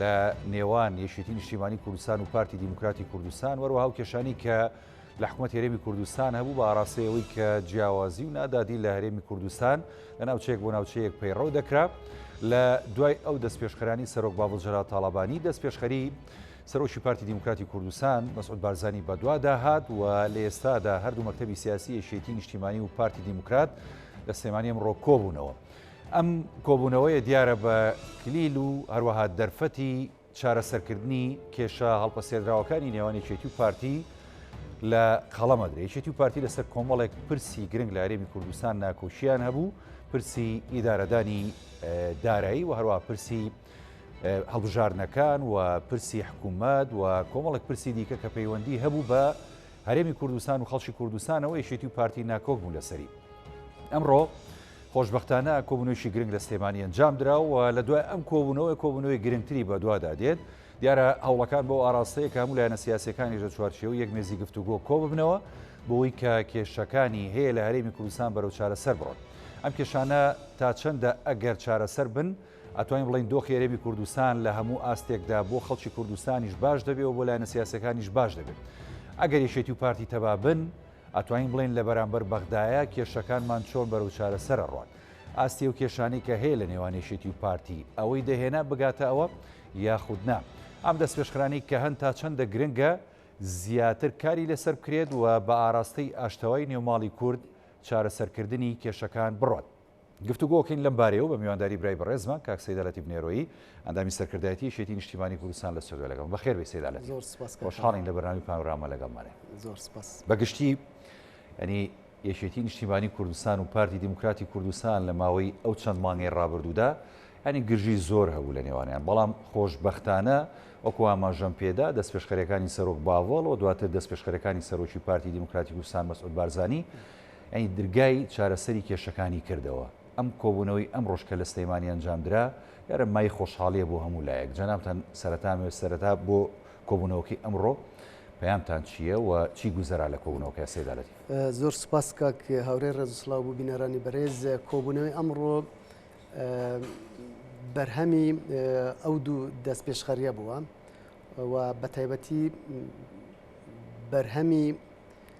لە نێوان یەکێتی نیشتیمانی کوردستان و پارتی دیموکراتی کوردستان وەروەها و کێشانی کە لە حکومت هەرێمی کوردستان هەبوو بە ئاراستەیەوەی کە جیاوازی و نادادی لە هەرێمی کوردستان لە ناوچەیەک بۆ ناوچەیەک پەیڕەو دەکرا لە دوای ئەو دەست پێشخەرانی سەرۆک باڵ جەرا تاالبانی دەست پێشخەری سەرۆکی پارتی دیموکراتی کوردستان مەسعود بارزانانی بەدوادا هات و لە ئێستادا هەردوو مەکتتەبی سیاسی یەکێتی نیشتیمانی و پارتی دیموکرات لە سلێمانی ئەمڕۆ کۆبوونەوە. ئەم کۆبوونەوەیە دیارە بە کلیل و هەروەها دەرفەتی چارەسەرکردنی کێشە هەڵپەسێدراوەکانی نێوان یەکێتی و پارتی لە قەڵەمەدرێ یەکێتی و پارتی لەسەر کۆمەڵێک پرسی گرنگ لە هەرێمی کوردستان ناکۆکییان هەبوو پرسی ئیدارەدانی دارایی و هەروە پرسی هەڵبژاردنەکان و پرسی حکوومەت و کۆمەڵێک پرسی دیکە کە پەیوەندی هەبوو بە هەرێمی کوردستان و خەڵکی کوردستانەوە یەکێتی و پارتی ناکۆک بوو لەسەری ئەمڕۆ خۆشبەختانە کۆبوونەوەیەکی گرنگ لە سلێمانی ئەنجامدرا و لە دوای ئەم کۆبوونەوەی کۆبوونەوەی گرنگتری بەدوادا دێت، دیارە هەوڵەکان بەو ئاراستەیە کە هەموو لایەنە سیاسییەکانیش لە چوارچێوەی یەک مێزی گفتوگۆ کۆببنەوە بەوەی کە کێشەکانی هەیە لە هەرێمی کوردستان بەرەو چارەسەر بڕۆن. ئەم کێشانە تا چەندە ئەگەر چارەسەر بن، ئەتوانین بڵێین دۆخی هەرێمی کوردستان لە هەموو ئاستێکدا بۆ خەڵکی کوردستانیش باش دەبێ و بۆ لایەنە سیاسییەکانیش باش دەبێت. ئەگەر یەکێتی و پارتی تەبا بن، ئەتوانین بڵێین لە بەرامبەر بەغدایە کێشەکانمان چۆن بەرەو چارەسەر ئەڕۆن؟ ئاستی ئەو کێشانەی کە هەیە لە نێوان یەکێتی و پارتی ئەوەی دەهێنا بگاتە ئەوە یاخود نا؟ ئەم دەستپێشخرانەی کە هەن تا چەندە گرنگە زیاتر کاری لەسەر بکرێت و بە ئاراستەی ئاشتەوای نێوماڵی کورد چارەسەرکردنی کێشەکان بڕۆن؟ گفتوگۆ ئەکەین لەم بارەیەوە بە میوانداری برای بەڕێزمان کاک سەیدا لەتیف نێرۆیی ئەندامی سەرکردایەتی یەکێتی نیشتیمانی کوردستان لە سوریا لەگەڵم بەخێر بێی سەیدا لەتیف زۆر سوپاس کاک خۆشحاڵین لە بەرنامەی پانۆراما لەگەڵمانێ زۆر سوپاس بە گشتی ینی یەکێتی نیشتیمانی کوردستان و پارتی دیموکراتی کوردستان لە ماوەی ئەو چەند مانگەی ڕابردوودا ینی گرژی زۆر هەبوو لە نێوانیان بەڵام خۆشببختانە وەکو ئاماژەم پێدا دەست پێشخەرەکانی سەرۆک باڤڵ و دواتر دەست پێشخەرەکانی سەرۆکی پارتی دیموکراتی کوردستان مەسعود بارزانانی یانی درگای چارەسەری کێشەکانی کردەوە. ئەم کۆبوونەوەی ئەمڕۆش کە لە سلێمانی ئەنجامدرا، دیارە مایەی خۆشحاڵییە بۆ هەموو لایەک. جەنابتان سەرەتان وێ سەرەتا بۆ کۆبوونەوەکەی ئەمڕۆ پەیامتان چییە و چی گوزەرا لە کۆبوونەوەکە سەید عەلە تیف؟ زۆر سوپاس کاک هاورێ، ڕێز و سڵاو بۆ بینەرانی بەرێز. کۆبوونەوەی ئەمڕۆ بەرهەمی ئەو دوو دەستپێشخەرییە بووە و بەتایبەتی بەرهەمی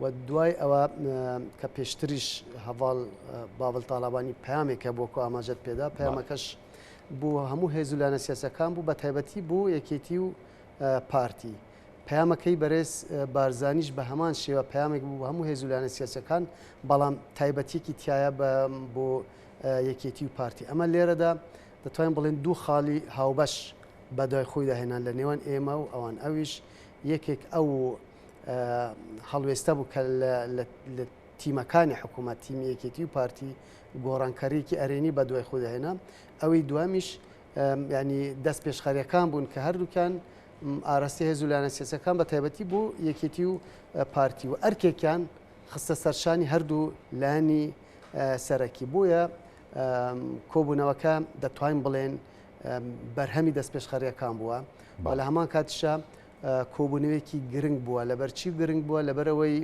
و دوای ئەوە کە پێشتریش هەڤاڵ باڤڵ تاڵابانی پامێک کە بۆکو ئاماژەت پێدا پامەکەش بۆ هەموو هێزولانە سیاسەکان بوو بە تایبەتی بۆ یەکێتی و پارتی پامەکەی بەرێز بارزانیش بە هەمان شێوە پامێک بوو هەموو هێزولانە سیاسەکان بەڵام تایبەتیکی تایە بە بۆ یەکێتی و پارتی ئەمە لێرەدا دەتوانین بڵێن دوو خاڵی هاوبەش بەدوای خۆی داهێنان لە نێوان ئێمە و ئەوان ئەویش یەکێک ئەو هەڵوێستە بوو کە لە تیمەکانی حکوومەت تیمی یەکێتی و پارتی گۆڕانکەڕێکی ئەرێنی بە دوای خودهێنا ئەوەی دوامیش ینی دەست پێشخەرەکان بوون کە هەردووکان ئاراستی هێز و لایەنە سێسەکان بە تایبەتی بوو یەکێتی و پارتی و ئەرکێکیان خستە سەرشانی هەردوو لانی سەرەکی بووە کۆبوونەوەکە دەتوانین بڵێن بەرهەمی دەست پێشخەرەکان بووە بە لە هەمان کاتیشە کۆبوونەوەیەکی گرنگ بووە لەبەرچی گرنگ بووە لەبەرەوەی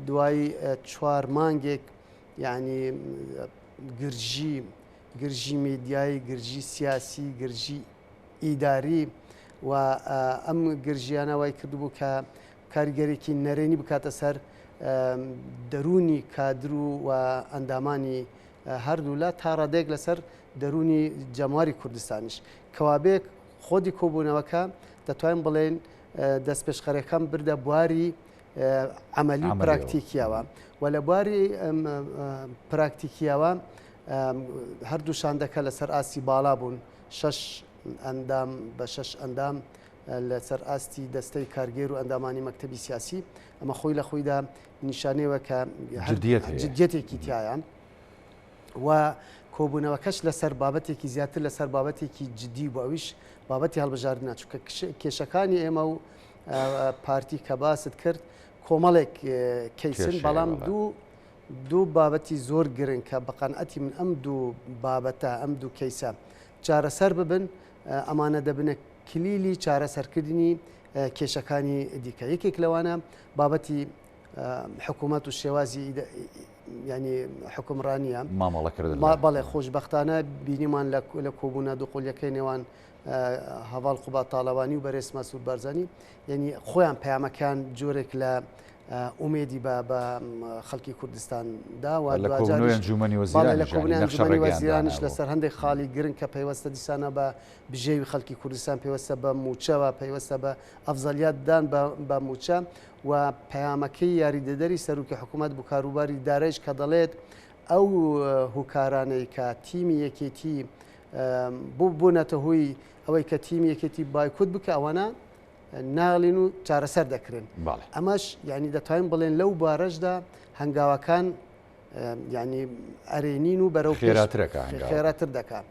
دوای چوار مانگێک یعنی گرژی گرژی میدیایی گرژی سیاسی گرژی ئیداری و ئەم گرژیانە وای کردبوو کە کاریگەرێکی نەرێنی بکاتە سەر دەرونی کادر و و ئەندامانی هەردوولا تا ڕادێک لەسەر دەرونی جەماری کوردستانیش کەوابێک خودی کۆبوونەوەکە دەتوانین بڵێین دەستپێشخەرەکەم بردە بواری عملی و پراکتیکیەوە و لە بواری پراکتیکیەوە هەردوو شاندەکە لەسەر ئاستی باڵا بوون شش ئەندام بە شش ئەندام لەسەر ئاستی دەستەی کارگێر و ئەندامانی مەکتتەبی سیاسی ئەمە خۆی لە خۆیدا نیشانەوە کە جدیەتێکی تایە. و کۆبوونەوەکەش لەسەر بابەتێکی زیاتر لەسەر بابەتێکی جددی بوو ئەویش بابەتی هەڵبژاردنە چونکە کێشەکانی ئێمە و پارتی کە باست کرد کۆمەڵێک کەیسن بەڵام دوو دوو بابەتی زۆر گرن کە بەقەنەتی من ئەم دوو بابەتە ئەم دوو کەیسە چارەسەر ببن ئەمانە دەبنە کلیلی چارەسەرکردنی کێشەکانی دیکە یەکێک لەوانە بابەتی حکوومەت و شێوازی یعنی حکومڕانیە بەڵێ خۆشببختانە بینیمان لە کۆبوونا دوقلیەکەی نێوان هەواڵ قوبا تاالەوانی و بەرێز مەسوود بەرزانی یعنی خۆیان پامەکان جۆرێک لە ئومێدی بە بە خەڵکی کوردستان داوا لە کۆبنیانی وەزیرانش لەسەر هەندێک خاڵی گرنگ کە پەیوەستە دیسانە بە بژێوی خەڵکی کوردستان پێوەستە بە موچەوە پەیوەستە بە ئەفزەلیاتدان بە موچە و پەیامەکەی یاریدەدەری سەرۆکی حکومەت بۆ کاروباری دارەیش کە دەڵێت ئەو هوکارانەی کە تیمی یەکێتی بۆ بوونەتە هۆی ئەوەی کە تیمی یەکێتی بایکوت بکە ئەوانە ناڵین و چارەسەر دەکرێن ئەمەش یعنی دەتوانین بڵێن لەو بارەشدا هەنگاوەکان ینی ئەرێنین و بەرەو خێراترەکە خێراتر دەکات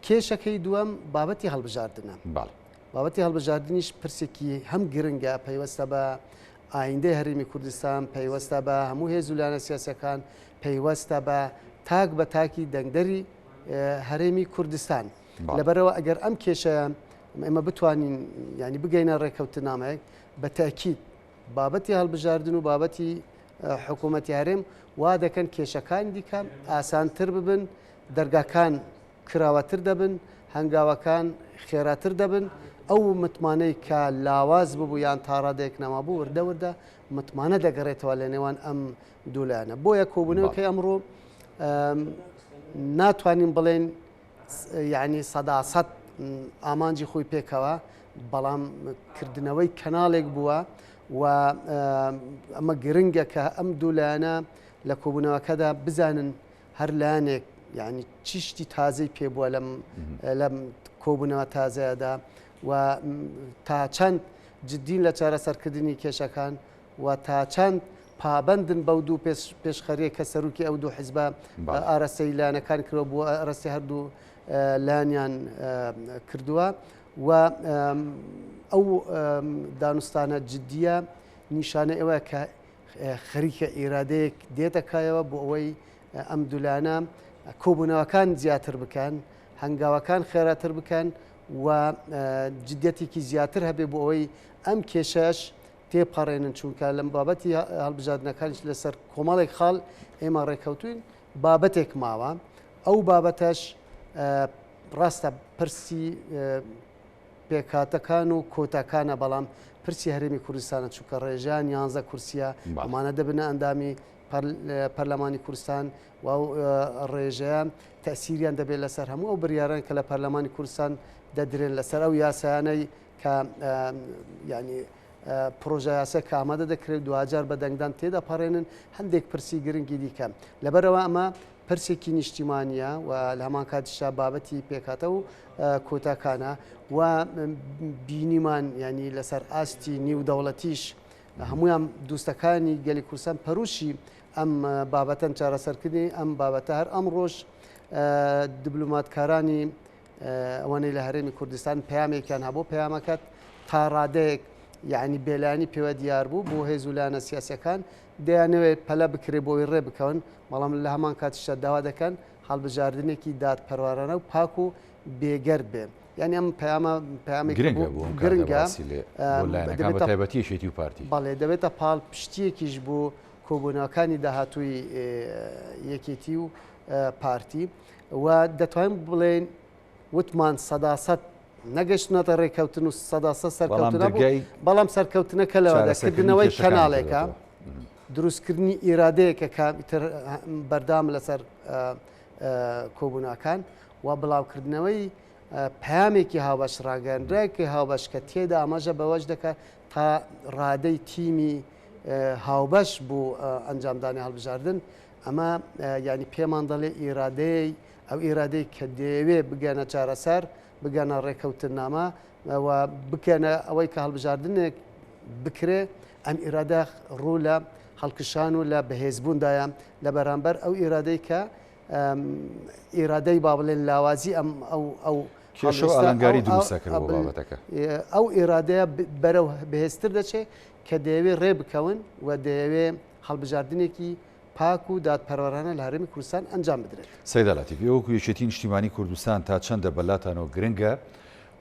کێشەکەی دووەم بابەتی هەڵبژاردنە باڵ بابەتی هەڵبژاردنیش پرسێکی هەم گرنگە پەیوەستە بە ئایندەی هەرێمی کوردستان پەیوەستە بە هەموو هێز و لایەنە سیاسەکان پەیوەستە بە تاک بە تاکی دەنگدەری هەرێمی کوردستان لەبەرەوە ئەگەر ئەم کێشە ئێمە بتوانین ینی بگەینە ڕێککەوتنامەیەک بە تاکیت بابەتی هەڵبژاردن و بابەتی حکوومەتی هەرێم وا دەکەن کێشەکان دیکە ئاسانتر ببن دەرگاکان کراوەتر دەبن، هەنگاوەکان خێراتر دەبن، ئەو متمانەی کە لاواز ببوو یان تا ڕادەیەک نەمابوو وردە وردە متمانە دەگەڕێتەوە لە نێوان ئەم دوو لایەنە، بۆیە کۆبوونەوەکەی ئەمڕۆ ناتوانین بڵێین یعنی سەدا سەد ئامانجی خۆی پێکەوە بەڵام کردنەوەی کەناڵێک بووە و ئەمە گرنگە کە ئەم دوولایەنە لە کۆبوونەوەکەدا بزانن هەر لایەنێک یعنی چی شتی تازەی پێ بووە لەم لەم کۆبوونەوە تازەیەدا و تا چەند جددین لە چارەسەرکردنی کێشەکان و تا چەند پابندن بەو دوو پێشخەرێ کە سەرروکی ئەو دوو حزبە ئارەسەی لایەنەکان کرۆ بووە ئەرەستی هەردوو لایەنیان کردووە و ئەو دانوستانە جددیە نیشانە ئێوە کە خەریکە ئیرادەیەک دێتە کایەوە بۆ ئەوەی ئەم دولانە کۆبوونەوەکان زیاتر بکەن هەنگاوەکان خێراتر بکەن و جدەتێکی زیاتر هەبێ بۆ ئەوەی ئەم کێشەش تێپەڕێنن چونکە لەم بابەتی هەڵبژاردنەکانش لەسەر کۆمەڵێک خاڵ ئێمە ڕێککەوتوین بابەتێک ماوە ئەو بابەتەش ڕاستە پرسی پێکهاتەکان و کۆتاکانە بەڵام پرسی هەرێمی کوردستانە چونکە ڕێژان یانزە کورسیە ئەمانە دەبنە ئەندامی پەرلەمانی کوردستان و ڕێژەیان تەسیریان دەبێت لەسەر هەموو ئەو بریارن کە لە پەرلەمانی کوردستان دەدرێن لەسەر ئەو یاسایانەی کە ینی پرۆژە یاسە کە ئامادە دەکرێت دوجار بە دەنگدان تێدەپەڕێنن هەندێک پرسی گرنگی دیکە لەبەرەوە ئەمە پرسێکی نیشتیمانیە و لە هەمان کاتیشا بابەتی پێکاتە و کۆتاکانە و بینیمان ینی لەسەر ئاستی نیو دەوڵەتیش هەمویان دوستەکانی گەلی کورسان پەروشی ئەم بابەتەن چارەسەرکردنی ئەم بابەتە هەر ئەم ڕۆژ دبلوماتکارانی ئەوەنەی لە هەرێمی کوردستان پامێکیان هەبوو پامەکەت تا ڕادەیەک یعنی بێلانی پێوە دیار بوو بۆ هێزولانە سیاسەکان دەیانەوێت پەلە بکرێت بۆ ئەوەی ڕێبکەون، بەڵام لە هەمان کاتیشدا داوا دەکەن هەڵبژاردنێکی دادپەروارانە و پاک و بێگەرد بێت. یانی ئەم پەیامە پەیامێکی گرنگە بۆ لایەنەکان بەتایبەتی یەکێتی و پارتی. بەڵێ، دەبێتە پاڵپشتییەکیش بۆ کۆبوونەوەکانی داهاتووی یەکێتی و پارتی و دەتوانین بڵێین، وتمان سەدا سەد نەگەشتنەتە ڕێککەوتن و سەدا سە سەرکەوتنە بەڵام سەرکەوتنەکە لەوە دەکردنەوەی کەناڵێکە دروستکردنی ئیرادەیەکە کە بەردام لەسەر کۆبووناکان و بڵاوکردنەوەی پامێکی هاوبەش ڕاگەندراکی هاوبەش کە تێدا ئاماژە بەوەش دەکات تا ڕادەی تیمی هاوبەش بوو ئەنجامدانی هەڵبژاردن ئەمە ینی پێمان دەڵێ ئیرادەیە ئەو ئیرادەی کە دەیەوێ بگەنە چارەسەر، بگەنە ڕێکەوتننامە و بکەنە ئەوەی کە هەڵبژاردنێک بکرێ، ئەم ئیرادە ڕوو لە هەڵکشان و لە بەهێزبووندایە لە بەرامبەر ئەو ئیرادەی کە ئیرادەی با بڵێن لاوازی ئەم ئەو ئەلەنگاری دروستەکرد بابەتەکە ئەو ئێرادەیە بەرەو بەهێزتر دەچێت کە دەیەوێ ڕێ بکەون و دەیەوێ هەڵبژاردنێکی پاک و دادپەروەرانە لە هەرێمی کوردستان ئەنجام بدرێت. سەیدا لەتیف، ئێوە وەکو یەکێتی نیشتیمانی کوردستان تا چەندە بە لاتانەوە گرنگە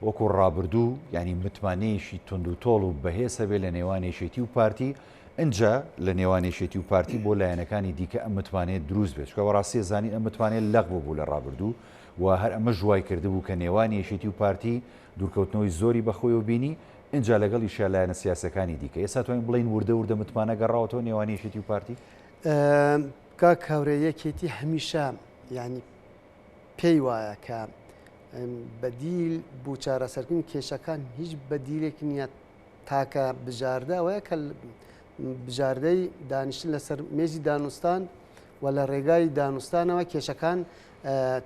وەکو ڕابردوو یانی متمانەیەکی توندوتۆڵ و بەهێز هەبێت لە نێوان یەکێتی و پارتی، ئینجا لە نێوان یەکێتی و پارتی بۆ لایەنەکانی دیکە ئەم متمانەیە دروست بێت، چونکە بەڕاستی ئەزانین ئەم متمانەیە لەق ببوو لە ڕابردوو و هەر ئەمەش وایکردبوو کە نێوان یەکێتی و پارتی دوورکەوتنەوەی زۆری بەخۆیەوە بینی، ئینجا لەگەڵیشیا لایەنە سیاسیەکانی دیکە ئێستا توانین بڵین وردە وردە متمانە گەڕاوەتەوە نێوان یەکێتی و پارتی؟ کاک کاورێ یەکێتی هەمیشە ینی پێی وایە کە بەدیل بۆ چارەسەرکردن کێشەکان هیچ بەدیلێک نییە تاکە بژاردە ئەوەیە کە بژاردەی دانیشتن لەسەر مێزی دانوستان و لە ڕێگای دانوستانەوە کێشەکان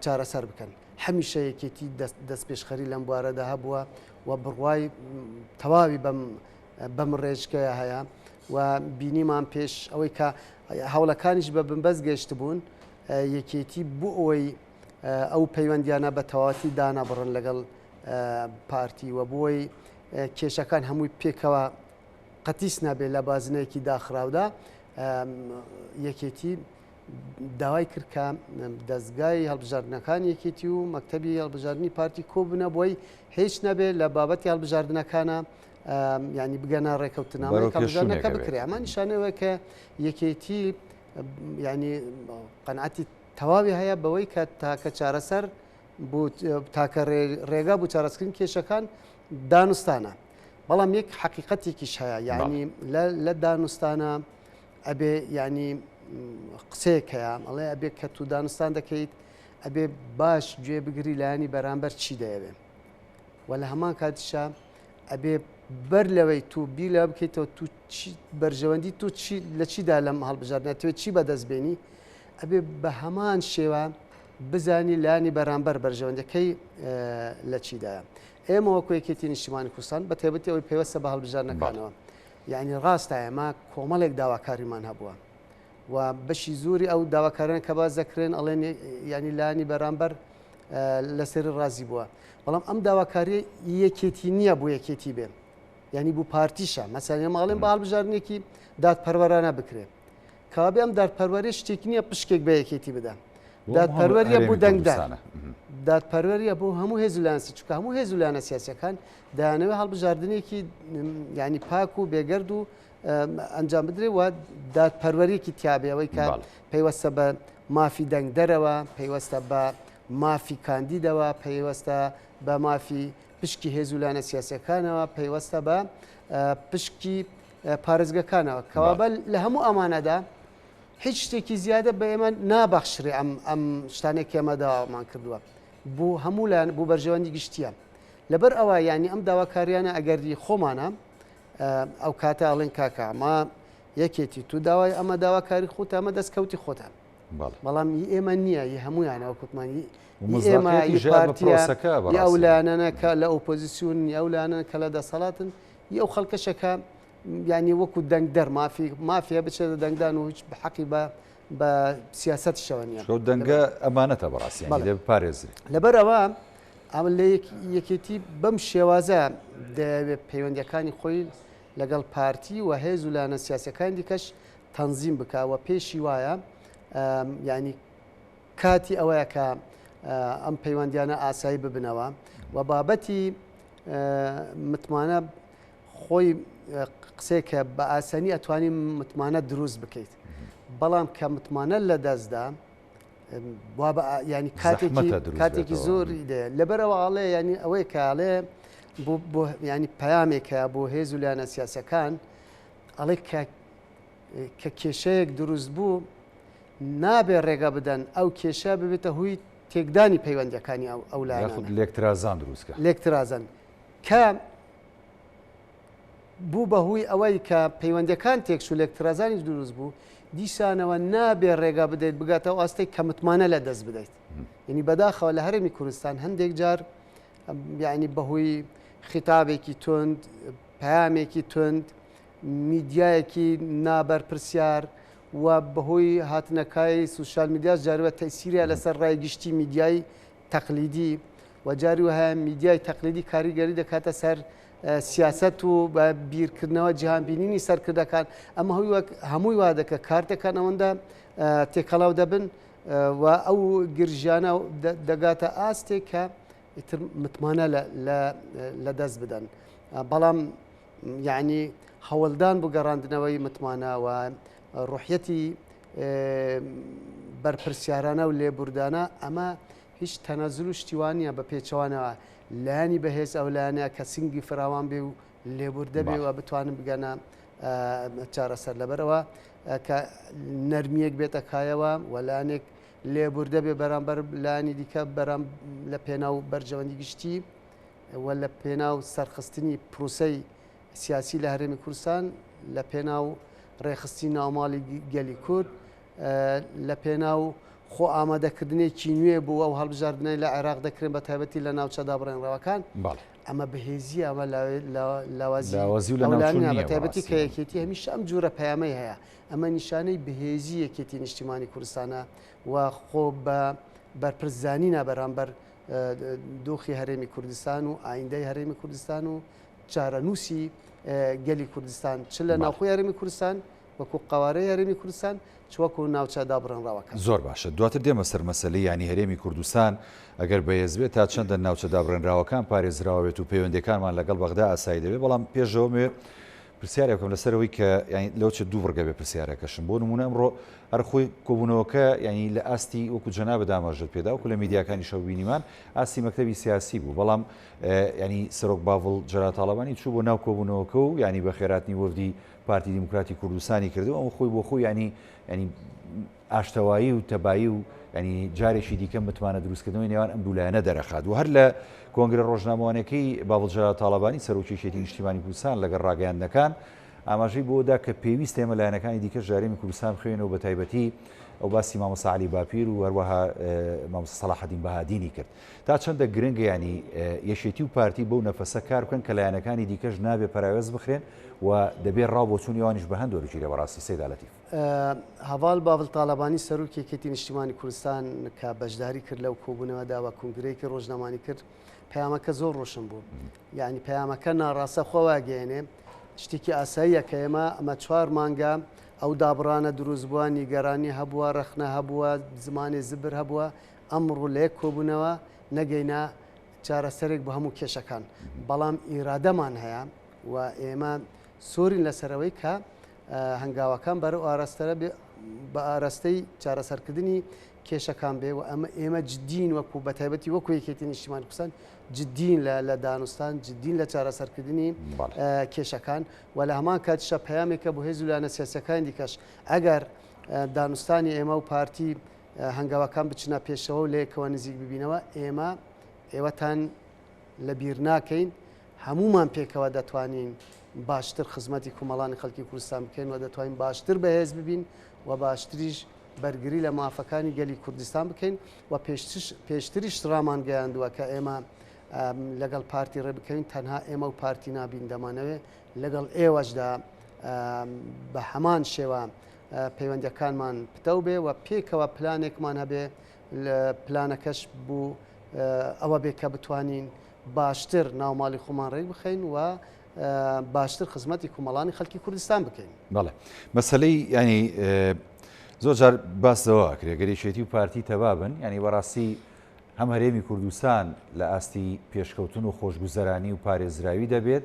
چارەسەر بکەن. هەمیشە یەکێتی دەستپێشخەری لەم بوارەدا هەبووە و بڕوای تەواوی بەم بەم ڕێژکەیە هەیە و بینیمان پێش ئەوەی کە هەوڵەکانیش بە بنبەست گەشتبوون یەکێتی بۆ ئەوەی ئەو پەیوەندیانە بە تەواتی دانابڕن لەگەڵ پارتی و بۆی کێشەکان هەمووی پێکەوە قەتیس نابێت لە بازنەیەکی داخراودا یەکێتی داوای کرد کە دەزگای هەڵبژاردنەکانی یەکێتی و مەکتتەبی هەڵبژاردننی پارتی کۆبنە بۆی هیچ نەبێت لە بابەتی هەڵبژاردنەکانە ینی بگەنە ڕێککەوتنامە کەژانەکە بکرێ ئەمە نیشانەوە کە یەکێتی ینی قەنعاتی تەواوی هەیە بەوەی کە تاکە چارەسەر تاکە ڕێگا بوو چارەسکردن کێشەکان دانوستانە بەڵام یەک حقیقەتێکیش هەیە یعنی لە دانوستانە ئەبێ یانی قسەیەک هەیە ئەڵێ ئەبێ کە تو دانوستان دەکەیت ئەبێ باش گوێ بگری لایانی بەرامبەر چی دەیەوێ و لە هەمان کاتیشە ئەبێ بەر لەوەی تو بی لە بکەیتەوە تو بەرژەوەندی تو لە چیدا لەم هەڵبژاردنەتوێت چی بەدەست بێنی ئەبێ بە هەمان شێوە بزانی لانی بەرامبەر بەرژەوەندەکەی لە چیدایە ئێمەوە کوێکێتی نیشتمانی کوردستان بە تێبەتی ئەوەی پێوەستە بە هەڵبژارنەکانەوە یانی ڕاستە ئێمە کۆمەڵێک داواکاریمان هەبووە و بەشی زۆری ئەو داواکاران کە باس دەکرێن ئەڵێن یانی لانی بەرامبەر لەسەری ڕازی بووە بەڵام ئەم داواکاری یەکێتی نییە بۆ یەکێتی بێ یعنی بوو پارتیشە مەسەێ ماڵێن باڵ بژارنێکی دادپەروەرانە بکرێت کابێ ئەم دادپەروەری شتێک نییە پشکێک بە یەکێتی بدە دادپەروەریە بوو دەنگدانە دادپەروەریە بۆ هەموو هێزولانسی چکە هەموو هێزولانە سیاسەکان دەیانەوێت هەڵبژاردنێکی ینی پاک و بێگەرد و ئەنجام بدرێ و دادپەروەرێکی تیاابێەوەی کە پەیوەستە بە مافی دەنگدەرەوە پەیوەستە بە مافی کاندیدەوە پەیوەستە بە مافی پشکی هێزولانە سیاسەکانەوە پەیوەستە بە پشکی پارێزگەکانەوە کەوابە لە هەموو ئەمانەدا هیچ شتێکی زیادە بە ئێمە نابەخشرێ ئەم ئەم شتانێک ئێمە داوامان کردووە بۆ هەموو لایەن بۆ بەرژەوەندی گشتیان لەبەر ئەوە یانی ئەم داواکاریانە ئەگەری خۆمانە ئەو کاتە ئەڵێن کاکە ئەمە یەکێتی تو داوای ئەمە داواکاری خۆت ئەمە دەست کەوتی خۆتان بەڵام هی ئێمە نییە هی هەمویانەوە کوتمانی ئێمەسەکە ئەو لایەنەکە لە ئۆپۆزیسیون ئەو لایەنە کە لە دەسەڵاتن ئەو خەڵکەشەکە ینی وەکو دەنگ دەرمافی مافیا بچێتە دەنگدان و هیچ بحەقی بە بە سیاست شەوە نیە شەو دەنگە ئەمانەتە بەڕاستی یانی لێ بپارێزرێت لەبەر ئەوە ئەمە لە یەکێتی بەم شێوازە دەیەوێت پەیوەندەکانی خۆی لەگەڵ پارتی و هێز و لایەنە سیاسەکان دیکەش تەنزیم بکەوە پێشی وایە ینی کاتی ئەوەیە کە ئەم پەیوەندیانە ئاسایی ببنەوە و بابەتی متمانە خۆی قسێکە بە ئاسانی ئەتوانی متمانە دروست بکەیت بەڵام کە متمانە لە دەستدا ینی کاتێکی کاتێکی زۆری دێ لەبەرەوە ئاڵێ ینی ئەوەی کاڵێ ینی پامێکە بۆ هێز و لایەنە سیاسەکان ئەڵێ کە کێشەیەک دروست بوو نابێ ڕێگە بدەن ئەو کێشە ببێتە هوی تێکدانی پەیوەندەکانی ئەو ئەو لایەن لێکترازان دروستکە لێکترازن کە بوو بە هوی ئەوەی کە پەیوەندیەکان تێکچوو لێک ترازانیش دروست بوو دیسانەوە نابێ ڕێگا بدەیت بگاتە ئەو ئاستەی کە متمانە لە دەست بدەیت یعنی بەداخەوە لە هەرێمی کوردستان هەندێک جار یعنی بەهۆی خیتابێکی تند پامێکی تند میدیایەکی نابەرپرسیار و بەهۆی هاتنەکای سوسیال میدیاش جاربە تەسیریا لەسەر ڕای گشتی میدیایی تەقلیدی و جاری وهایە میدیای تەقلیدی کاریگەری دەکاتە سەر سیاست و بە بیرکردنەوە جیهانبینینی سەرکردەکان ئەمە هەوی وەک هەمووی وا دەکە کارتەکان ئەوەندە تێکەڵاو دەبن و ئەو گرژیانە دەگاتە ئاستێک کە ئیتر متمانە لە دەست بدەن بەڵام یعنی هەوڵدان بۆ گەڕاندنەوەی متمانەوە ڕحەتی بەرپرسیارانە و لێبوردانە ئەمە هیچ تەنەزل و شتیوانە بە پێچوانەوە لایانی بەهێز ئەو لایەنە کە سنگی فراوان بێ و لێبوردە بێ و بتوانن بگەنە چارەسەر لەبەرەوە کە نەرمیەک بێتە کایەوە وەلانێک لێبوردە بێ بەرامبەر لانی دیکە بەرام لە پێناو بەرژەوەندی گشتی و لە پێناو سەرخستنی پرووسەی سیاسی لە هەرێمی کوردستان لە پێناو ڕێخستی ناوماڵی گەلی کورد لە پێناو خۆ ئامادەکردنێکی نوێ بوو ئەو هەڵبژاردنەی لە عێراق دەکرێن بە تایبەتی لە ناوچەدا بڕێنڕەوەکان ئەمە بەهێزی ئەمە لاوازیتایبەتی کە یەکێتی هەمیشە ئەم جورە پەیامەی هەیە ئەمە نیشانەی بەهێزی یەکێتی نیشتیمانی کوردستانە و خۆ بە بەرپرسزانی نابەرامبەر دۆخی هەرێمی کوردستان و ئایندەی هەرێمی کوردستان و چارەنووسی گەلی کوردستان چ لە ناوخۆی هەرێمی کوردستان وەکو قەوارەی هەرێمی کوردستان چ وەکو ناوچە دابڕێنراوەکان. زۆر باشە دواتر دێمە سەر مەسەلەی یانی هەرێمی کوردستان ئەگەر بەهێز بێت تا چەندە ناوچە دابڕێنراوەکان پارێزراوە بێت و پەیوەندیەکانمان لەگەڵ بەغدا ئاسایی دەبێت بەڵام پێشەوە مەوێ پرسیارێک بکەم لەسەر ئەوەی کە یانی لەو چ دوو بڕگە بێ پرسیارەکەشم بۆ نمونە ئەمڕۆ هەر خۆی کۆبوونەوەکە یانی لە ئاستی وەکو جەنابە داماژت پێدا وەکو لە میدیاکانیشەوە بینیمان ئاستی مەکتەبی سیاسی بوو بەڵام یانی سەرۆک باڤڵ جەلال تاڵەبانی چوو بۆ ناو کۆبوونەوەکە و یانی بە خێراتنی وەفدی پارتی دیموکراتی کوردستانی کردو ئەو خۆی بۆ خۆی ینی ینی ئاشتەوایی و تەبایی و ینی جارێکی دیکە متمانە دروستکردنەوەی نێوان ئەم دوولایەنە دەرەخات و هەر لە کۆنگرە ڕۆژنامەوانەکەی باڤڵ جەلال تاڵەبانی سەرۆکی یەکێتی نیشتیمانی کوردستان لەگەڵ ڕاگەیاندنەکان ئاماژەی بۆدا کە پێویستە ئێمە لایەنەکانی دیکەش جارێمی کوردستان بخوێنەوە بە تایبەتی ئەو باسی مامۆستا عەلی باپیر و هەروەها مامۆستا سەڵاحەدین بەهادینی کرد تا چەندە گرنگە یانی یەکێتی و پارتی بەو نەفەسە کار بکەن کە لایەنەکانی دیکەش نابێ پەراوێز بخرێن و دەبێ ڕاو بۆچوونی ئەوانیش بە هەند وەرگیرێ بەڕاستی سەیدا لەتیف. هەڤاڵ باڤڵ تاڵەبانی سەرۆکی یەکێتی نیشتیمانی کوردستان کە بەشداری کرد لەو کۆبوونەوەدا و کونگرەیەکی ڕۆژنامانی کرد پەیامەکە زۆر ڕۆشن بوو یعنی پەیامەکە ناڕاستە خۆ واگەیەنێ شتێکی ئاساییە کە ئێمە ئەمە چوار مانگە ئەو دابڕانە دروست بووە نیگەرانی هەبووە ڕەخنە هەبووە زمانی زبر هەبووە ئەمڕۆ لە یەک کۆبوونەوە نەگەینا چارەسەرێک بۆ هەموو کێشەکان، بەڵام ئیرادەمان هەیە و ئێمە سوورین لەسەر ئەوەی کە هەنگاوەکان بەرەو ئاراستەرە بێ بە ئاراستەی چارەسەرکردنی کێشەکان بێ و ئەمە ئێمە جدین وەکو بە تایبەتی وەکو یەکێتی نیشتیمان کوردستان جدین لە لە دانوستان جدین لە چارەسەرکردنی کێشەکان و لە هەمان کاتیشە پەیامێکە بۆ هێز و لایەنە سیاسەکانی دیکەش ئەگەر دانوستانی ئێمە و پارتی هەنگاوەکان بچنە پێشەوە و لەیەکەوە نزیک ببینەوە، ئێمە ئێوەتان لەبیرناکەین، هەموومان پێکەوە دەتوانین باشتر خزمەتی کومەڵانی خەڵکی کوردستان بکەین و دەتوانین باشتر بەهێز ببین و باشتریش بەرگری لە مافەکانی گەلی کوردستان بکەین و پێشتریش ڕامانگەیاندووە کە ئێمە لەگەڵ پارتی ڕێ بکەین تەنها ئێمە و پارتی نابین دەمانەوێ لەگەڵ ئێوەشدا بە هەمان شێوە پەیوەندیەکانمان پتەو بێ و پێکەوە پلانێکمان هەبێ پلانەکەش بوو ئەوە بێ کە بتوانین باشتر ناوماڵی خۆمان ڕێک بخەین و باشتر خزمەتی کومەڵانی خەڵکی کوردستان بکەین بەڵێ مەسلەی ینی زۆر جار باسەوە کرێ گەریشێتی و پارتی تەبابن ینی بەڕاستی هەم هەرێمی کوردستان لە ئاستی پێشکەوتن و خۆشگوزەرانی و پارێزراوی دەبێت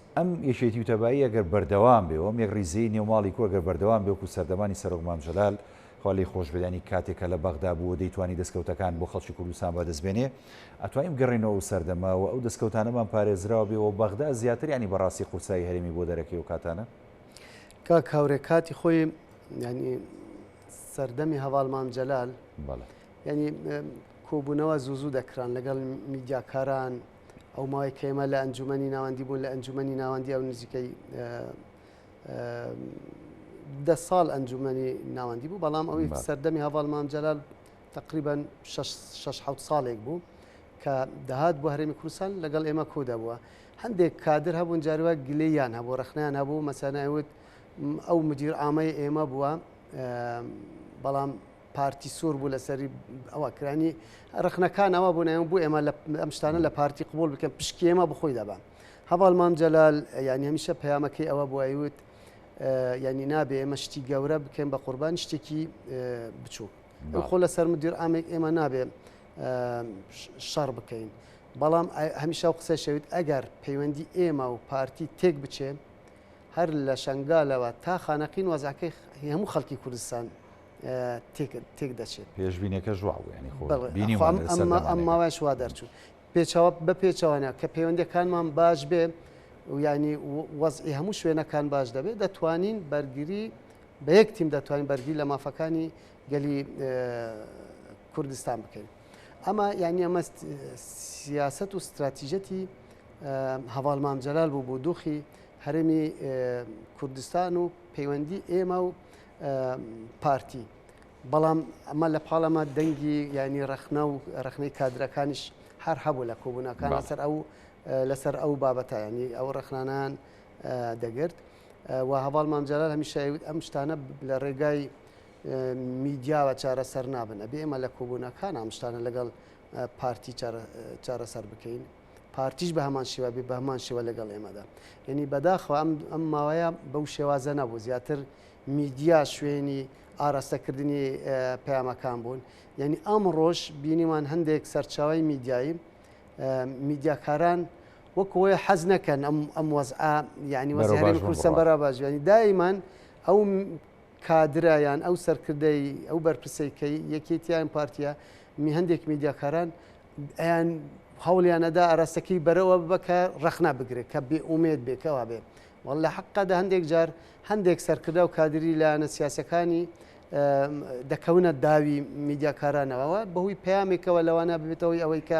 ئەم یەکێتی و تەبایی ئەگەر بەردەوام بێ و ئەم یەکڕیزیی نێو ماڵی کورد گەر بەردەوام بێ وەکوو سەردەمانی سەرۆک مام جەلال، خوا لێی خۆش بێت، یانی کاتێک کە لە بەغدا بوو و دەیتوانی دەسکەوتەکان بۆ خەڵکی کوردستان بەدەست بێنێ، ئەتوانین بگەڕێینەوە ئەو سەردەمە و ئەو دەسکەوتانەمان پارێزراو بێ و بەغدا زیاتر یانی بە ڕاستی قورسایی هەرێمی بۆ دەرەکەی ئەو کاتانە؟ کاک هاورێ کاتی خۆی یانی سەردەمی هەڤاڵ مام جەلال، بەڵێ. یانی کۆبوونەوە زوو زوو دەکران لەگەڵ میدیاکاران، ئەو ماوەی کە ئێمە لە ئەنجومەنی ناوەندی بوون لە ئەنجومەنی ناوەندی ئەو نزیکەی دە ساڵ ئەنجومەنی ناوەندی بوو بەڵام ئەوی سەردەمی هەواڵ مام جەلال تقریبان 6 ساڵێک بوو کە دەهات بۆ هەرێمی کوردستان لەگەڵ ئێمە کودا بووە هەندێک کادر هەبوون جاروە گلیان هەبوو ڕخنیان هەبوو مەسەنایوت ئەو مدیر ئامای ئێمە بووە بەڵام پارتی سور بوو لەسەری ئەوە کرانی ڕخنەکان ئەوە بوون ئەم بوو ئێمە ئەم شتانە لە پارتی قوبول بکەن پشکی ئێمە بخۆی دەبان هەواڵ مام جەلال ینی هەمیشە پەیامەکەی ئەوە بوویوت ینی نابێ ئێمە شتی گەورە بکەین بە قوربان شتێکی بچوو خۆ لە سەر مدیر ئامێک ئێمە نابێ شەڕ بکەین بەڵام هەمیشە و قسە شەویت ئەگەر پەیوەندی ئێمە و پارتی تێک بچێ هەر لە شنگالەوە تا خانەقین وەزعەکەی هەموو خەڵکی کوردستان تێک دەچێت پێشبینەکەش وا بوو ینی خۆ ئەم ماوەش وا دەرچوو پێچەوە بە پێچەوانە کە پەیوەندەکانمان باش بێ و ینی وەزئی هەموو شوێنەکان باش دەبێت دەتوانین بەرگری بە یەک تیم دەتوانین بەرگی لە مافەکانی گەلی کوردستان بکەین ئەمە یعنی ئەمە سیاست و استراتیژەتی هەواڵ مامجلال بوو بۆ دۆخی هەرێمی کوردستان و پەیوەندی ئێمە و پارتی بەڵام ئەمە لە پاڵەمە دەنگی ینی ڕخنە و ڕخنەی کادرەکانیش هەر هەبوو لە کۆبوونەکان لەسەر ئەو لەسەر ئەو بابەتە ینی ئەو ڕخنانان دەگرت و هەواڵ مامجارال هەمیشەوت ئەم شتانە لە ڕێگای میدیاوە چارەسەر نابن ئەبێ ئێمە لە کۆبوونەکان ئەم شتانە لەگەڵ پارتی چارەسەر بکەین پارتیش بە هەمان شێوە بێ بە هەمان شێوە لەگەڵ ئێمەدا یعنی بەداخەوە ئەم ئەم ماوەیە بەو شێوازە نەبوو زیاتر میدیا شوێنی ئاراستەکردنی پەیامەکان بوون یعنی ئەم ڕۆژ بینیمان هەندێک سەرچاوی میدیایی میدیاکاران وەکۆی حەز نەکەن ئەم ئەم وەزعە یعنی وەزیێن کوردستان بەرا باژوانی دایمان ئەو کادرایان ئەو سەرکردەی ئەو بەرپرسێکەی یەکێتیان پارتیە می هەندێک میدیاکاران ئەیان هەوڵیان ئەدا ئاراستەکەی بەرەوە ببە کە ڕەخنا بگرێت کە بێ ئومێد بێ کەوا بێ وەڵ لە حەقەدا هەندێک جار هەندێک سەرکردا و کادری لایەنە سیاسەکانی دەکەونە داوی میدیاکارانەوەەوە بەهوی پامێکەوە لەوانە ببێتەوەی ئەوەی کە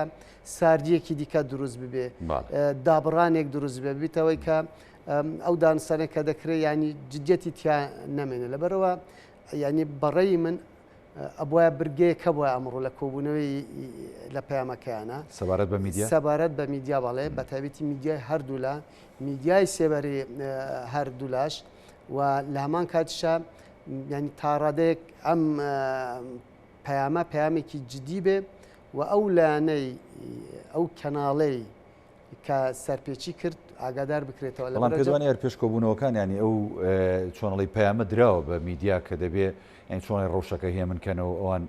ساردیەکی دیکە دروست ببێ دابڕانێک دروست بێ ببیتەوەی کە ئەو دانسانە کە دەکرێت ینی جدیەتی تیا نامێنێ لەبەرەوە ینی بەڕێی من ئەبوایە برگەیەک هەبوایە ئەمڕۆ لە کۆبوونەوەی لە پەیامەکەیانە سەبارەت بە میدیا سەبارەت بە میدیا بەڵێ بە تایبەتی میدیای هەردوولا میدیای سێبەری هەردوولاش و لە هەمان کاتشە ینی تاڕادێک ئەم پەیامە پامێکی جدی بێ و ئەو لایەنەی ئەو کەناڵەی کە سەرپێچی کرد ئاگادار بکرێتەوە بەڵام پێت وانیە پێش کۆبوونەوەکان ینی ئەو چۆنڵی پەیامە دراوە بە میدیا کە دەبێ یان چۆنی ڕەوشەکە هێمنکەنەوە ئەوان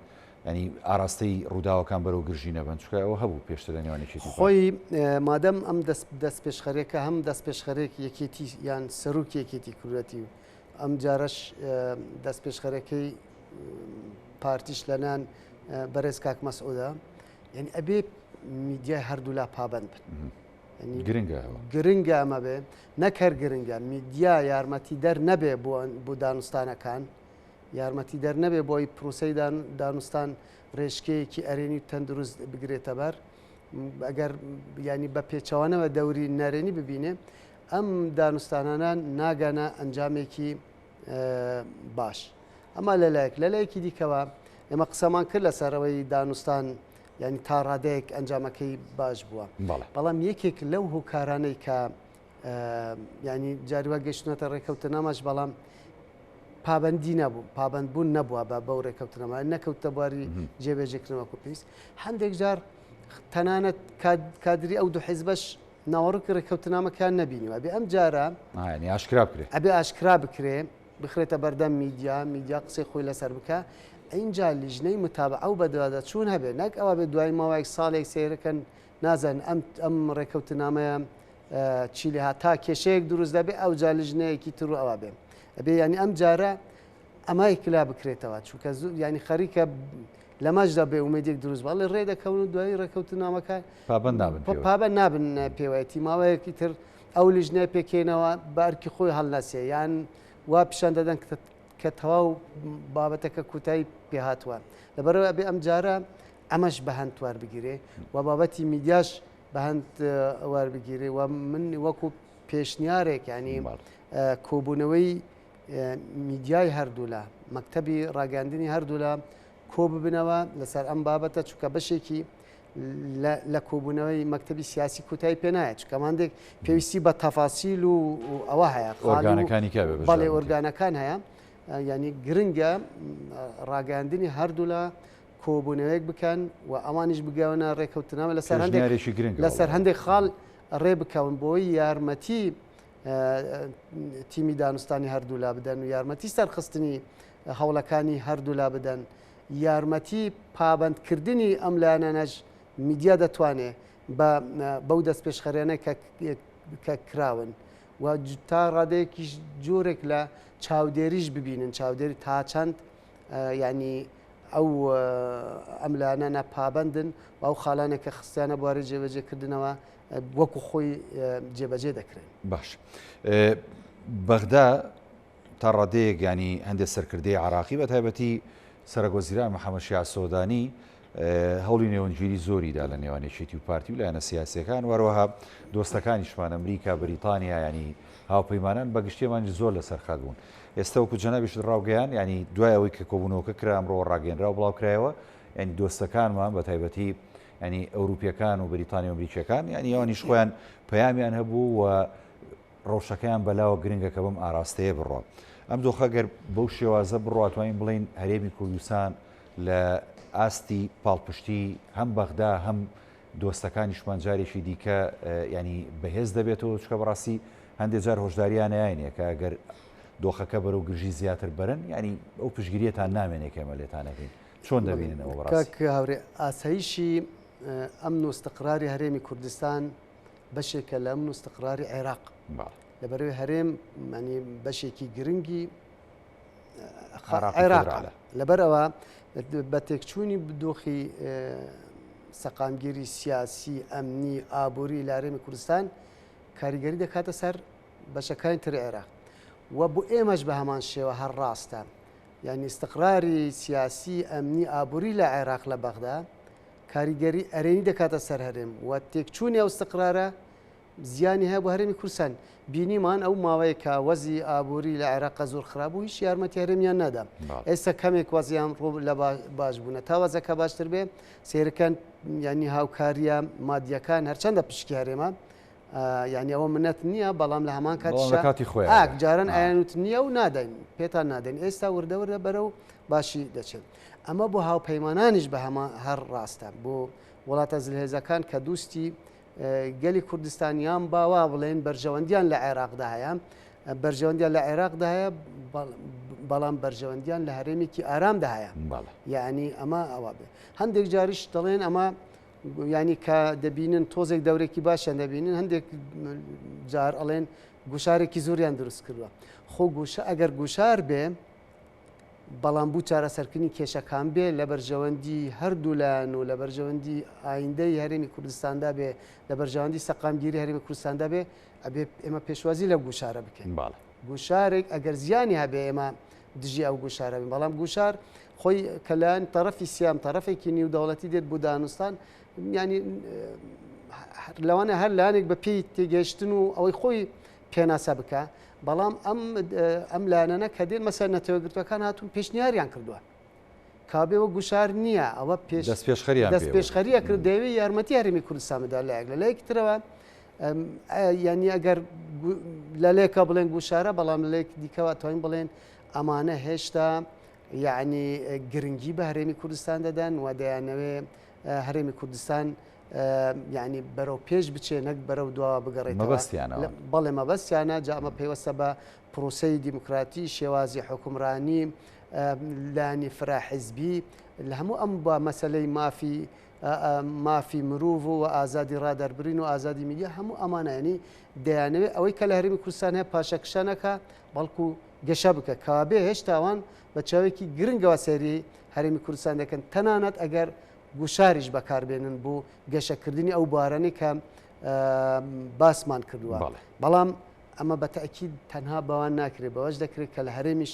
ینی ئاراستەی ڕووداوەکان بەرەو گرژی نەبن چکە ئەوە هەبوو پێشتە لە نێوانێکی خۆی مادەم ئەم دەست پێشخەرێکە هەم دەست پێشخەرێک یەکێتی یان سەرروک یەکێتی کوورەتی و ئەم جارش دەست پێشخەرەکەی پارتیش لەنان بەرێز کاک مەسعودا یعنی ئەبێ میدیای هەردوولا پابند بن گرنگە گرنگە ئەمە بێ نەکەر گرنگە میدیا یارمەتی دەر نەبێ بۆ دانوستانەکان یارمەتی دەر نەبێ بۆی پرۆسی دانوستان ڕێژکەیەکی ئەرێنی تەندروست بگرێتە بەر ئەگەر ینی بە پێچەوانەوە دەوری نەرێنی ببینێ ئەم دانوستانانە ناگەنە ئەنجامێکی باش ئەمە لەلایەک لە لایەکی دیکەوە ئێمە قسەمان کرد لە سەرەوەی دانوستان ینی تا ڕادەیەک ئەنجامەکەی باش بووە بەڵام یەکێک لەو هۆکارانەی کە ینی جاروە گەشتنەتە ڕێکەوتە ناماش بەڵام پابندی نەبوو پابندبوون نەبووە بە بەو ڕێکەوتنەما نەکەوتە بواری جێبێژێکنەوەکو پێویست هەندێک جار تەنانەت کادری ئەو دوو حیزبەش ناوەڕۆکی ڕێککەوتنامەکان نەبینیوە ئەبێ ئەم جارە ئاشکرا بکرێت ئەبێ ئاشکرا بکرێ بخرێتە بەردەم میدیا میدیا قسەی خۆی لەسەر بکە ئەینجا لیژنەی متابە ئەو بەدوادە چوون هەبێت نەک ئەوە بێت دوای ماوەی ساڵێک سێرەکەن نازن ئەم ئەم ڕێککەوتنامەیە چی لێ هاتا کێشەیەک دروست دەبێ ئەو جا لیژنەیەکی تر و ئەوە بێ ئەبێ ینی ئەم جارە ئەمای کلا بکرێتەوە چونکە زوو ینی خەریکە لەمەشدا بێ ئومێدێک دروست بە ڵێ ڕێ دەکەون و دوایی ڕێکەوتنامەکە پابەند نابن پێوە. پابەند نابن نە پێوەتی ماوەیەکی تر ئەو لیژنەیە پێکێنەوە بە ئەرکی خۆی هەڵنەسێ یان وا پیشان دەدەن کە کە تەواو بابەتەکە کوتایی پێ هاتووە لەبەرەوە ئەبێ ئەم جارە ئەمەش بە هەند توار بگیرێ و بابەتی میدیاش بە هەند ئەوار بگیرێ و من وەکو پێشنیارێک ینی کۆبوونەوەی میدیای هەردوولا، مەکتەبی ڕاگەیاندنی هەردوولا کۆببنەوە لەسەر ئەم بابەتە چونکە بەشێکی لە کۆبوونەوەی مەکتتەبی سیاسی کوتای پێنایە چکەماندێک پێویستی بە تەفاسیل و ئەوە هەیە خۆگانەکانی بەڵێ ئۆرگانەکان هەیە ینی گرنگە ڕاگەاندنی هەردوولا کۆبوونەوەیەک بکەن و ئەوانیش بگەونە ڕێککەوتنەوە لەسەر هەندێکشی گرنگ لەسەر هەندێک خاڵ ڕێ بکەون بۆی یارمەتی تیمی دانوستانی هەردوولا بدەن و یارمەتی سەرخستنی هەوڵەکانی هەردوولا بدەن یارمەتی پابندکردنی ئەم لایەنەش میدیا دەتوانێت بەو دەست پێشخەرێنە کە کراون و تا ڕادەیەکیش جۆرێک لە چاودێریش ببینن چاودێری تا چەند ینی ئەو ئەملانە نەپابندن و ئەو خاڵانێکە خستیانە بواری جێبەجێکردنەوە وەکو خۆی جێبەجێ دەکرێن باش بەغدا تا ڕادەیەک ینی هەندێک سەرکردەی عراقی بە تایبەتی سەرگۆزیران محەممەشیا سۆدانی هەوڵی نێوەنگگیری زۆریدا لە نێوانێکێتی و پارتی و لایەنە سیاسەکان وەروەها دۆستەکانیشمان ئەمریکا بریتانیا ینی هاوپەیمانان بەگشتێمان زۆر لەسەر خەت بوون ئێستا وەکو جەنابیش ڕاوگەیان ینی دوای ئەوەی کە کۆبوونەوەکە کرا ئەمڕۆ ڕاگەنرا و بڵاوکرایەوە ینی دۆستەکانمان بە تایبەتی ینی ئەوروپیەکان و بریتانی و ئەمریکیەکان ینی ئەوانیش خۆیان پەیامیان هەبوو و ڕەوشەکەیان بەلاوە گرنگە کە بم ئاراستەیە بڕۆ ئەم دۆخە گەر بەو شێوازە بڕاتوانین بڵین هەرێمی کوردستان لە ئاستی پاڵپشتی هەم بەغدا هەم دۆستەکانیشمان جارێکی دیکە ینی بەهێز دەبێتەوە چکە بەڕاستی هەندێک جار هۆشداریانیانە کە گەر دۆخەکە بەرەو گرژی زیاتر بەرن ینی ئەو پشگیریەتان نامێنێکێمە لێتانەکەین چۆن دەبینن ئەوە بەڕاستی؟ کاک هاورێ ئاسایشی ئەمن و استقراری هەرێمی کوردستان بەشێکە لە ئەمن و استقراری عێراق لەبەرەوەی هەرێم مەنی بەشێکی گرنگی عێراق لەبەرەوە بە تێکچوونی بدۆخی سەقامگیری سیاسی ئەمنی ئابووری لارێمی کوردستان کاریگەری دەکاتە سەر بەشەکانی تر عێراق و بۆ ئێمەش بە هەمان شێوە هەر ڕاستە یانی ئیستقراری سیاسی، ئەمنی، ئابووری لە عێراق لە بەغدا کاریگەری ئەرێنی دەکاتە سەر هەرێم و تێکچوونی ئەو ئیستقرارە زیانی هەیە بۆ هەرێمی کوردستان. بینیمان ئەو ماوەیە کە وەزی ئابووری لە عێراقا زۆر خراپ بوو، هیچ یارمەتی هەرێمیان نەدا. بەڵێ. ئێستا کەمێک وەزیان ڕوو لە باش بوونە. تا وەزەکە باشتر بێ سەیرکەن یانی هاوکارییە مادییەکان هەرچەندە پشکی هەرێمە، یعنی ئەوە منەت نییە بەڵام لە هەمان کاتی خۆی ئاک جاران ئایانوت نییە و نادەین پێتان نادەین ئێستا وردەوردە بەرە و باشی دەچێت ئەمە بۆ هاوپەیمانانیش بە هەمە هەر ڕاستە بۆ وڵاتە زلهێزەکان کە دوستی گەلی کوردستانیان باوا بڵێن بەرژەوەندیان لە عێراقدا هەیە بەرژەوەندیان لە عێراقدا هەیە بەڵام بەرژەوەندیان لە هەرێمێکی ئارامدا هەیە یعنی ئەمە ئەوە بێ هەندێک جاریش دەڵێن ئەمە یانی کە دەبینن تۆزێک دەورێکی باشیان دەبینن هەندێک جار ئەڵێن گوشارێکی زۆریان دروست کردوە خۆ گوشە ئەگەر گوشار بێ بەڵام بوو چارەسەرکردنی کێشەکان بێ لە بەرژەوەندی هەردوو لایەن و لە بەرژەوەندی ئایندەی هەرێمی کوردستاندا بێ لە بەرژەوەندی سەقامگیری هەرێمی کوردستاندا بێ ئەبێ ئێمە پێشوازی لە گوشارە بکەین باڵ گوشارێک ئەگەر زیانی هەبێ ئێمە دژی ئەو گوشارە بن بەڵام گوشار خۆی کە لایەن تەرەفی سیام تەرەفێکی نیو دەوڵەتی دێت بۆ دانوستان ینی لەوانە هەر لایەنێک بە پێی تێگەشتن و ئەوەی خۆی پێناسە بکە بەڵام ئەم ئەم لایەنە کە دێن مەسەر نەتەوەگرتوەکان هاتون پێشنیاریان کردووە کابێ وە گوشار نییە ئەوە پێش دەستپێشخەری ئەکرد دەیەوێت یارمەتی هەرمی کوردستان بدا لایەک لە لایەکی ترەوە یعنی ئەگەر لەلێکە بڵێن گوشارە بەڵام لێک دیکەوە توانین بڵێن ئەمانە هێشتا یعنی گرنگی بە هەرێمی کوردستان دەدەن و دەیانەوێ هەرێمی کوردستان یعنی بەرەو پێش بچێ نەک بەرەو دواوە بگەڕێت بەڵێ مەبەستیانە جامە پێوەستە بە پرۆسی دیموکراتی شێوازی حکومرانی لانی فرە حیزبی لە هەموو ئەم با مەسەلەی مافی مافی مروڤ و ئازادی ڕادەربرین و ئازادی میدیا هەموو ئەمانانی دەیانەوێت ئەوەی کە لە هەرمی کوردستان هەیە پاشەکشانەکە بەڵکو گەشە بکە کابێ هێشتاوان بە چاوێکی گرنگەوە سەری هەرمی کوردستان دەکەن تەنانەت ئەگەر گوشاریش بەکاربێنن بۆ گەشەکردنی ئەو بارانی کە باسمان کردووە بەڵام ئەمە بە تاکیید تەنها بەوان ناکرێت بەوەش دەکرێت کە لە هەرێمیش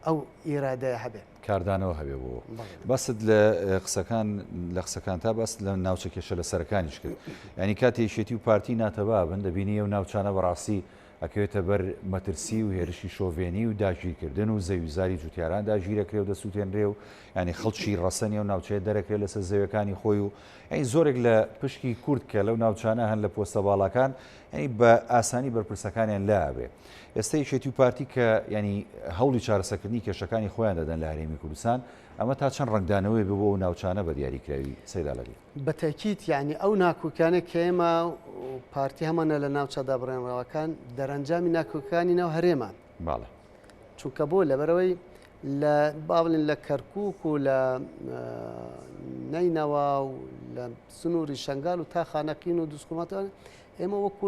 ئەو ئیرادەیە هەبێت. کاردانەوە هەبێت بۆ ئەوە. بەڵێ. باست لە قسەکان لە قسەکانتا باست لە ناوچە کێشە لەسەرەکانیش کرد. یانی کاتێ یەکێتی و پارتی ناتەبا بن، دەبینی ئەو ناوچانە بەڕاستی ئەکەوێتە بەر مەترسی و هێرشی شۆڤێنی و داگیرکردن و زەوی و زاری جوتیاران داگیرەکرێ و دەسوتێنرێ و یانی خەڵکی ڕەسەنی ئەو ناوچەیە دەرەکرێ لەسەر زەویەکانی خۆی و یانی زۆرێک لە پشکی کورد کە لەو ناوچانە هەن لە پۆستە باڵاکان یانی بە ئاسانی بەرپرسەکانیان لا ئەبێ. ئێستا یەکێتی و پارتی کە یانی هەوڵی چارەسەکردنی کێشەکانی خۆیان دەدەن لە هەرێمی کوردستان ئەمە تا چەند ڕنگدانەوەی بۆ و ناوچانە بە دیاریکراوی سەیرالەری بەتەکییت یعنی ئەو ناکوکیانە کێمە پارتی هەمانە لە ناوچە دابڕێنراوەکان دەرەنجامی ناکۆکانی ناو هەرێمان باڵێ چونکە بۆ لەبەرەوەی لە باڵین لە کەرکک و لە نینەوە و لە سنووری شنگال و تا خانەقین و دوسکوماتوان ئێمە وەکو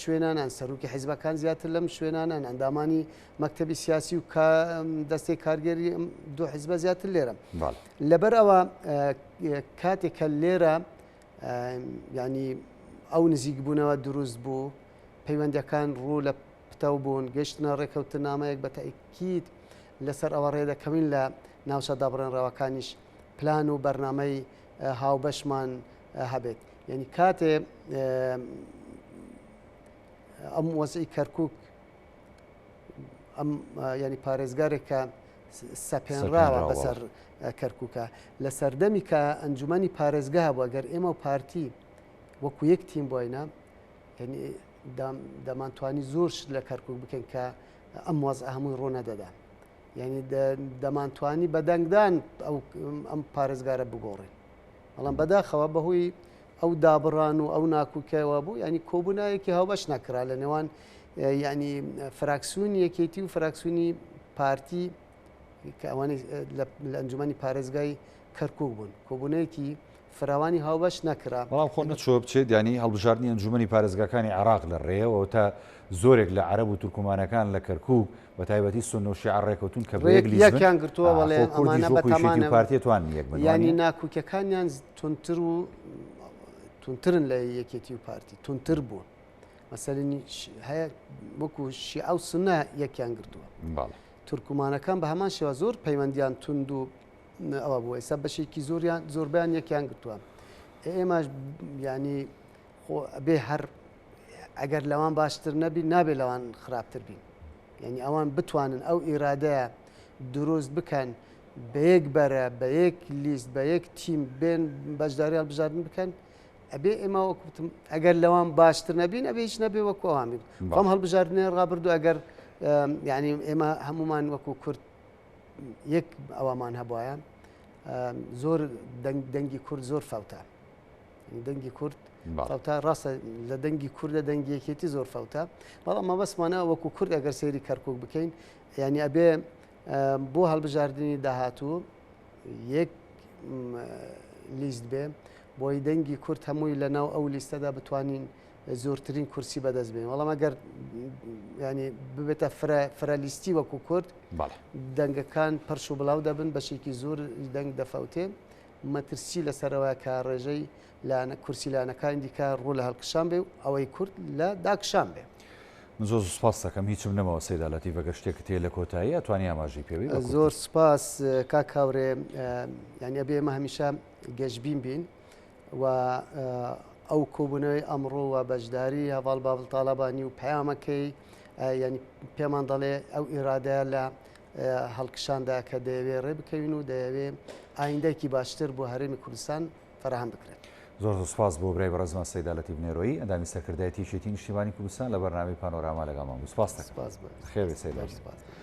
شوێنانان، سەرۆکی حیزبەکان زیاتر لەم شوێنانان، ئەندامانی مەکتەبی سیاسی و دەستی کارگەری دوو حیزبە زیاتر لێرە لەبەر ئەوە کاتێکە لێرە ینی ئەو نزیک بوونەوە دروست بوو پەیوەندەکان ڕوو لە پتەو بوون گەشتنە ڕێکەوتن نامەیەک بە تاکییت لەسەر ئەوە ڕێدەکەوین لە ناوچە دابڕێنراوەکانیش پلان و بەرنمەی هاوبەشمان هەبێت یعنی کاتێ ئەم وەزعی کەرکک ئەم ینی پارێزگارێکە سەپێنراوە بەسەر کەرککە لە سەردەمی کە ئەنجومی پارێزگە هەبووە گەر ئێمە و پارتی وەکو یەک تیم بۆینە دەمانتوانی زۆرش لە کەرکک بکەین کە ئەم وەز هەمووی ڕوونە دەدا یعنی دەمانتوانی بە دەنگدان ئەو ئەم پارێزگارە بگۆڕین بەڵام بەداخەوە بەهۆی ئەو دابڕان و ئەو ناکوکەوە بوو ینی کۆبوونایەکی هاوبەش نەکرا لە نێوان ینی فراکسیون یەکێتی و فراکسیونی پارتی کە ئەوانی لە ئەنجومی پارێزگای کەرکک بوون کۆبوونەیەکی فراوانی هاوبەش نەکرا. بەڵام خۆ نەچووە بچێت، یانی هەڵبژاردنی ئەنجوومەنی پارێزگاکانی عێراق لە رێیە و ئەوتا زۆرێک لە عەرەب و تورکمانەکان لە کەرکووک بە تایبەتی سوننە و شیعە رێکەوتوون کە بە یەک لیست بن، یەکیان گرتووە، بەڵێ ئەمانە بە تامانە و یانی ناکووکیەکانیان توندتر و توندترن لە یەکێتی و پارتی، توندتر بوون. مەسەلەنی هەیە وەکو شیعە و سوننە یەکیان گرتووە. بەڵێ. تورکمانەکان بە هەمان شێوە زۆر پەیوەندیان توند و ئەوە بوو ئێستا بەشێکی زۆریان زۆربیان یەکیان گرتووە ئێمەش ینی خۆ بێ هەر ئەگەر لەوان باشتر نەبی نابێ لەوان خراپتر بین یعنی ئەوان بتوانن ئەو ئیرادەیە دروست بکەن بە یەک بەرە بە یەک لیست بە یەک تیم بێن بەشداری هەڵبژاردن بکەن ئەبێ ئێمە وەکوتم ئەگەر لەوان باشتر نەبین ئەبێ هیچ نەبێ وەکو ئەوان بین بەڵام هەڵبژاردنێ ڕابردوو ئەگەر ینی ئێمە هەمومان وەکو کورد یەک ئەوامان هەبواە زۆر دەنگی کورد زۆر فەوتە دەنگی کورد فەوتا ڕاستە لە دەنگی کوردە دەنگیەکێتی زۆر فەوتە بەڵام مەبەستمانە وەکو کورد ئەگەر سێری کەرکک بکەین ینی ئەبێ بۆ هەڵبژاردننی داهاتوو یەک لیست بێ بۆی دەنگی کورت هەمووی لە ناو ئەو لیستەدا بتوانین زۆرترین کورسی بەدەست بێن وەڵام ئەگەر ینی ببێتە فرەلیستی وەکو کورد دەنگەکان پرش و بڵاو دەبن بەشێکی زۆر دەنگ دەفەوتێ مەترسی لەسەرەوە کە ڕێژەی لانە کورسی لانەکانی دیکە ڕوو لە هەڵکشان بێ و ئەوەی کورد لە داکشان بێ. من زۆر سوپاس دەکەم هیچم نەمەوە سەیدالەتی بەگە شتێک تێ لە کۆتایی ئەتوانی ئاماژی پێوی زۆر سپاس کا کاورێ یانە بێمە هەمیشە گەشببین بین و ئەو کۆبوونەوەی ئەمڕۆ و بەشداری هەواڵ باڵ تاالبانی و پەیامەکەی ینی پێمان دەڵێ ئەو ئیرادە لە هەڵکشاندا کە دەیەوێ ڕێ بکەوین و دەیەوێ ئایندەکی باشتر بۆ هەرێمی کوردستان فراهام بکرێت. زۆر زۆر سپاس بۆ برای بەڕێزمان سەیدا لەتیف نێرۆیی ئەندامی سەرکردایەتی یەکێتی نیشتیمانی کوردستان لە بەرنامەی پانۆراما لەگەڵمان بوو سپاست دەکەم. سپاس بۆ ئێوەش. بەخێربێی سەیدا گیان.